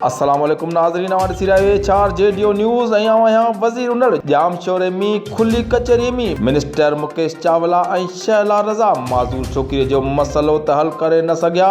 السلام عليڪم ناظرين اوهان ڏسي رهيا اهي چار جي ڊيو نيوز ۽ آئون آهيان وزير انڙ ڄام شوري مي کلي ڪچهري مي منسٽر مڪيش چاولا ۽ شهلا رضا معذور ڇوڪري جو مسئلو ته حل ڪري نه سگهيا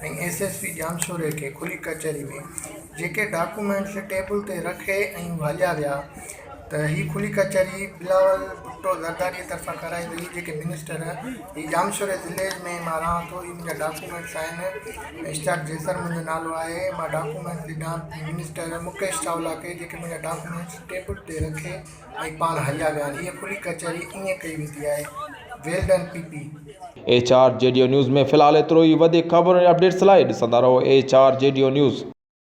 ۽ ايس ايس پي ڄامشوري کي کلي ڪچهري ۾ جيڪي ڊاڪومينٽس ٽيبل تي رکي ۽ ڀاڄيا ويا ته هي کلي ڪچهري بلاول ڀٽو زرداري طرفان ڪرائي وئي جيڪي منسٽر هي ڄامشوري ضلعي ۾ مان رهان ٿو هي منهنجا ڊاڪومينٽس آهن اشتياق جيسر منهنجو نالو آهي مان ڊاڪومينٽس ڏنا منسٽر مڪيش چاولا کي جيڪي منهنجا ڊاڪومينٽس ٽيبل تي رکي ۽ پاڻ هليا ويا آهن اهي کلي ڪچهري ائين ڪئي ويندي آهي well done P P. H R جي ڊيو نيوز ۾ في الحال ايترو ئي وڌيڪ خبرون ۽ اپڊيٽس لاء ڏسندا رهو ايڇ آر جي ڊيو نيوز.